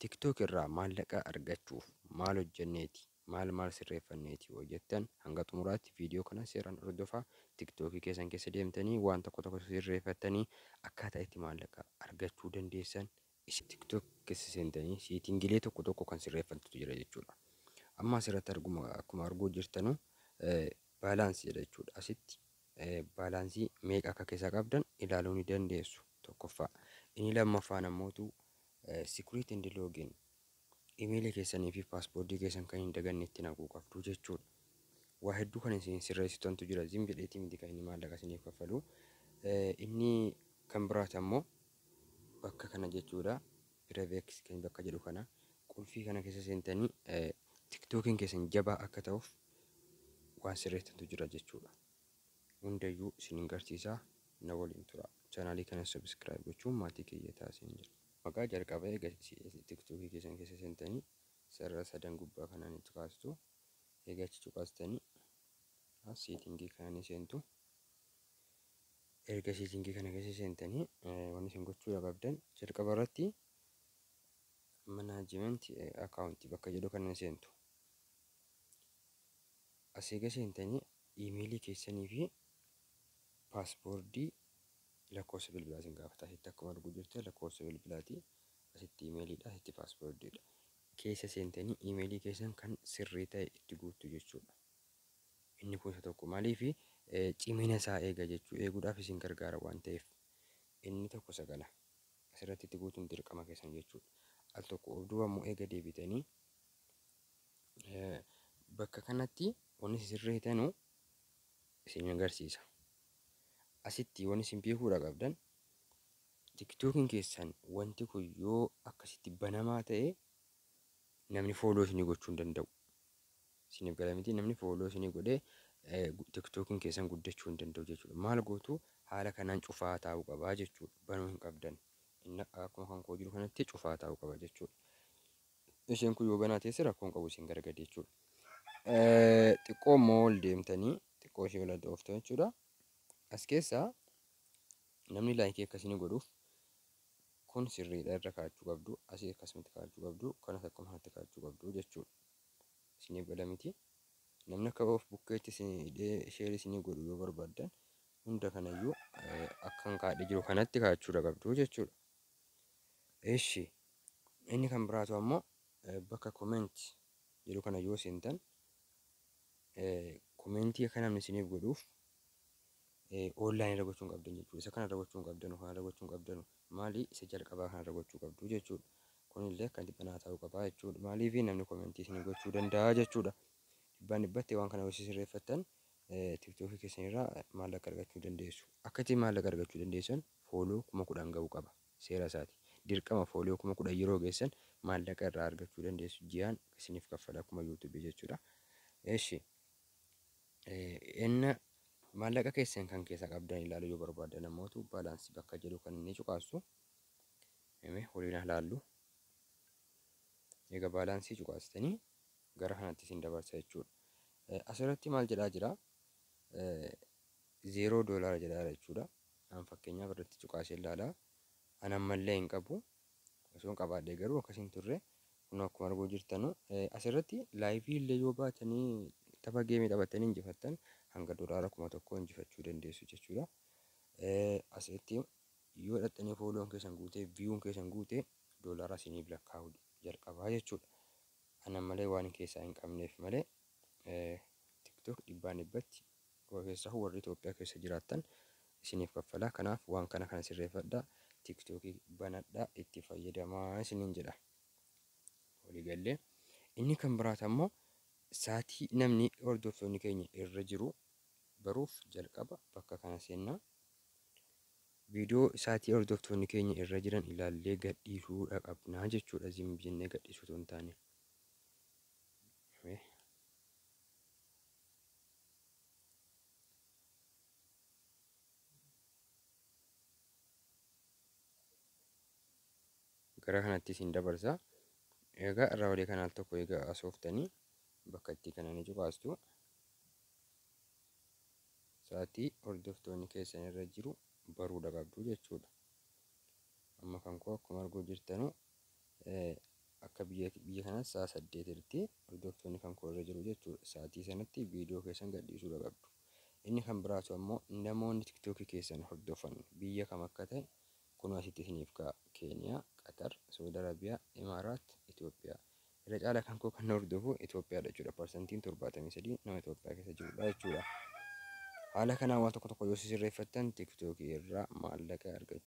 Tiktok irraa maallaqa argachuuf maal hojjenneeti, maal maal sirreeffanneeti yoo jettan hanga xumuraatti viidiyoo kana seeraan hordofaa. Tiktok keessan keessa deemtanii waan tokko tokko sirreeffattanii akkaataa itti maallaqa argachuu dandeessan isin. Tiktok keessa seentanii seetingilee tokko tokko kan sirreeffattutu jira jechuudha. Amma asirratti arguma akkuma arguu jirtanu baalaansi jedha jechuudha. Asitti baalaansii meeqa akka keessaa qabdan ilaaluu ni dandeessu tokkoffaa. Inni lammaffaan ammootu Secret and login Email keessanii fi passport keessan kan hin daganne itti naquu qabdu jechuudha. Waa hedduu kan isin sirreessitantu jira. Zim jedheetii miti kan inni maallaqa isiniif kaffalu. Inni kan biraati ammoo bakka kana jechuudha. Prevex kan bakka jedhu kana qulfii kana keessa seentanii tiktokiin keessan jabaa akka ta'uuf waan sirreessitantu jira jechuudha. hundayyuu isinin garsiisaa na waliin turaa channel kana subscribe gochuun maatii kiyya ta'a isinin jedha. Maqaa jalqaba eega tiktoki keessan keessa seentani sarara sadan gubbaa kana ni cuqaasitu eega achi cuqaastani as seetingii kana ni seentu erga seetingii kana keessa seentani wanni isin gochuudha qabdan jalqaba irratti management account bakka jedhu kana ni seentu as eega seentani Iimeelii keessanii fi paaspoordii lakkoofsa bilbilaa isin gaafata. Asitti akkuma arguu jirtan lakkoofsa bilbilaati. Asitti iimeeliidha, asitti paaspoordiidha. Keessa seentanii iimeelii keessan kan sirrii ta'e itti guuttu jechuudha. Inni kun isa tokko maaliif cimina isaa eega jechuu eeguudhaaf isin gargaara waan ta'eef. Inni tokko isa kana. Asirratti itti guutuun dirqama keessan jechuudha. Al tokko of duuba immoo eega deebitanii Bakka kanatti wanni isin sirreetanu isin agarsiisa. Asitti wanni isin beekuudha qabdan tiktookiin keessan wanti kun yoo akkasitti banamaa ta'e namni fooloo isinii gochuu hin danda'u. Isiniif gala miti namni fooloo isinii godhee tiktookiin keessan guddachuu hin danda'u jechuudha. Maal gootu haala kanaan cufaa taa'uu qabaa jechuudha. Banuu hin qabdan. Inni akkuma kan koo jiru kanatti cufaa taa'uu qaba jechuudha. isheen kun yoo banaa teesse rakkoon qabu isin gara gadi jechuudha. Xiqqoo immoo ol deemtanii xiqqoo ishee ol adda ooftan jechuudha. As keessaa namni laayikii akkasii godhuuf kun sirriidha irra kaa'achuu qabdu asii akkasumatti kaa'achuu qabdu kanas akkuma kanatti kaa'achuu qabdu jechuudha. Isiniif gala miti. Namni akka of bukkeetti sheer isinii godhu yoo barbaaddan hunda kanayyuu akkan kaa'ee jiru kanatti kaa'achuu qabdu jechuudha. Eshi inni kan biraatu ammo bakka comment jedhu kana yoo seentan commentii akka namni isiniif godhuuf online irra gochuun qabdan jechuudha. Isa kana irra gochuun qabdanu kana irra gochuun qabdanu maali isa jalqabaa kana irra gochuu qabdu jechuudha. Kunillee akka dhibbanaa ta'uu qabaa jechuudha. Maaliif namni commentii isinii gochuu danda'a jechuudha. Dhibbaan dhibbatti waan kana yoo sirreeffattan Tiktoki keessan irraa maallaqa argachuu dandeessu. Akka itti maallaqa argachuu dandeessan fooloo kuma kudhan ga'uu qaba. Seera isaati. Dirqama fooloo kuma kudhan yeroo geessan maallaqa irraa argachuu dandeessu. Ji'aan isiniif kaffala akkuma YouTube jechuudha. Eshi enna maallaqa keessan kan keessaa qabdan ilaaluu yoo barbaadan ammootu baalaansii bakka jedhu kan inni cuqaasu. Eme waliin haa laallu. Egaa baalaansii cuqaastanii gara kanatti isin dabarsa jechuudha. Asirratti maal jedhaa jira? Zeeroo doolaara jedhaa jira jechuudha. An fakkeenyaaf irratti cuqaasee ilaalaa. An ammallee hin qabu. Osoo hin qabaadhee garuu akkas hin turre. Kun akkuma arguu jirtanu asirratti laayivii illee yoo baatanii tapha geemii taphattanii injifattan hanga doolaara kuma tokko injifachuu dandeessu jechuudha. Asitti yoo dhaxxanii fooloon keessan guutee viyuun keessan guute doolaara isiniif lakkaa'u jalqabaa jechuudha. Ana malee waanin keessaa hin qabneef malee tiktok dhibbaan dhibbatti keessaahu warri Itoophiyaa keessa jiraattan isiniif kaffala. Kanaaf waan kana kana sirreeffadha. Tiktokii banadha itti fayyadamaa isiniin jedha. Walii gallee. Inni kan biraata immoo saatii namni hordoftoonni keenya irra jiru baruuf jalqaba bakka kana seenna. Video isaatii hordoftoonni keenya irra jiran ilaallee gadhiisuu dha qabnaa jechuu dha zim jennee gadhiisuu otoo hin taane. Gara kanatti isin dabarsa. Egaa irraa olee kanaal tokko egaa asooftanii bakka itti kana ni cuqaastu. sa'atii hordoftoonni keessan irra jiru baruudha qabdu jechuudha. Amma kan koo akkuma arguu jirtanu akka biyya biyya kanatti sa'a saddeet irratti hordoftoonni kan koo irra jiru jechuudha. Sa'atii sanatti viidiyoo keessan gadhiisuudha qabdu. Inni kan biraatu ammoo namoonni tiktookii keessan hordofan biyya kam akka ta'e kunoo asitti isiniif ka'a. Keeniyaa, Qatar, Saudi Arabiyaa, Imaaraat, Itoophiyaa. Irra caalaa kan koo kan na hordofu Itoophiyaadha jechuudha. Parsantiin 73 nama Itoophiyaa keessa jirudha jechuudha. Haala kanaan waan tokko tokko yoo sirreeffattan TikTok irraa maallaqa argachuu.